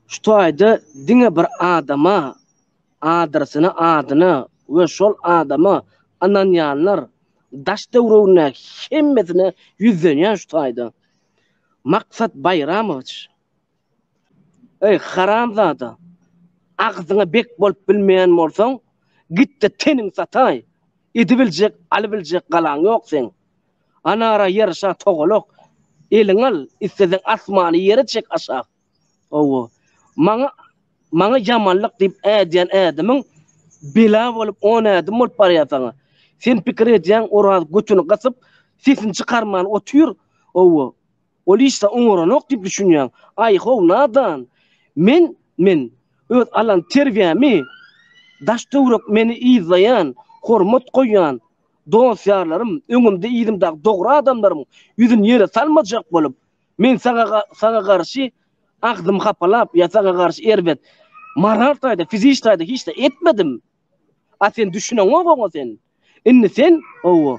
Şu taýda diňe bir adama, adresyna, adyna we şol adama ynanýanlar daş döwrügindäki hemmesine ýüzlenýän şu taýda. Maksat Baýramowiç. Eý, haramzada, agzyňa bek bolup bilmeýän bolsaň, git-de teniňi sataý. Edibiljek, alybiljek galaň ýok seň. Anara ýaraşa togalak eliň al isleseň asmany ýere çek aşa owo maňa maňa ýamanlyk diýip ädýän ädimiň bela bolup on ädim bolup barýa saňa sen pikir edýäň oraz götüni gasyp sesini çykarman otyr owo ol işde oňaranok diýip düşünýäň aý how nadan men men öz alan terbiýämi daş töwrek meni yzlaýan hormat goýýan Dost-ýarlarym, öňümde-yzymdaky dogry adamlarym ýüzüni ýere salmajak bolup, men saňa garşy agzymy hapalap ýa saňa garşy erbet, moral taýda, fiziki taýda hiç zat etmedim. A sen düşüneňok oňa sen. Indi sen, hawa,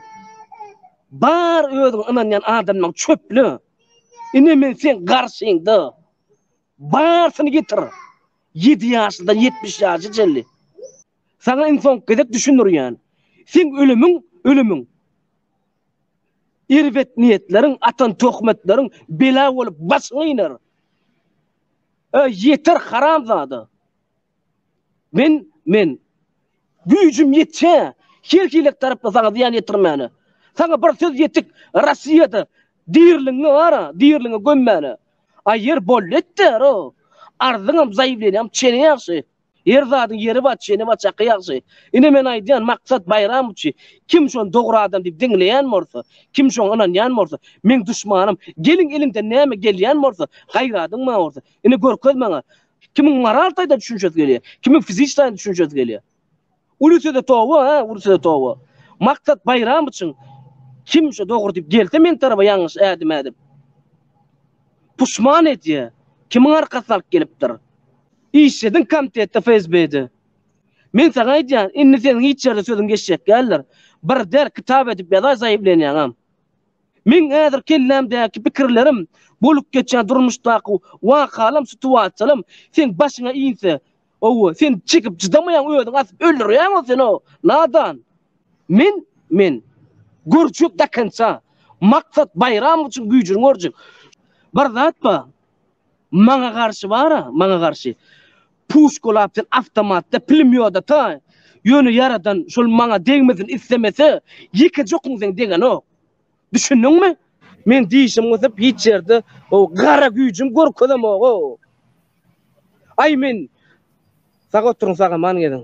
bar özüňe ynanýan adamlaryňy çöple. Ine men seň garşyňda. Barsyny getir. Ýedi ýaşlydan ýetmiş ýaşa çenli. Saňa iň soňky gezek düşündirýän. Seň ölümiň, ölümiň. Erbet niýetleriň, atan töhmetleriň bela bolup başyňy iner. Öý, ýeter haramzada. Men, men. Güýjüm ýetýä, her hili tarapda saňa zyýan ýetirmäne. Saňa bir söz ýetik, Rossiýada dirligiňi bar-a, dirligiňi gömmäne. Aýer bolýetdär-o. Arzyňam, zaýewleniýäňem çene ýagşy. Her zadyň ýeri bar çeni bar çaky ýagşy. Ine men aýdýan Maksat Baýramowiçi kim şony dogry adam diýip diňleýän bolsa, kim şoňa ynanýan bolsa meň duşmanym. Geliň eliňden näme gelýän bolsa gaýradyň maňa bolsa. Ine görkez maňa. Kimiň moral taýdan düşünşesi gelýär. Kimiň fiziki taýdan düşünşesi gelýär. Ulusede toba a ulusede toba. Maksat baýram üçin kim şo dogry diýip gelse men tarapa ýalňyş ädim ädip. Puşman edýä. Kimiň arkasyny alyp gelipdir. Işlediň komtetde FSB-de. Men saňa aýdýan indi seniň hiç ýerde sözüň geçjek däldir. Bir der kitap edip ýazaý zaýewleniýaňam. Meň häzir kellämdäki pikirlerim bolup geçýän durmuşdaky wakalam situasiýalam seň başyňa inse Owo, sen çekip çydamaýaň özüň asyp öldürýäň o seni o. Nadan. Men, men. Görjek da konca. Maksat Baýram üçin güýjüni görjek. Bir zat bar. Maňa garşy bara, maňa garşy. Puşkalap sen awtomatda, plimýodata. Ýöne ýaradan şol maňa degmesin islemese, ýekeje okuň sen degenok. Düşündiňmi? Men dişim gysyp hiç ýerde o gara güýjüm görkezemog-ow. Aý men Sag oturyň sagaman geziň.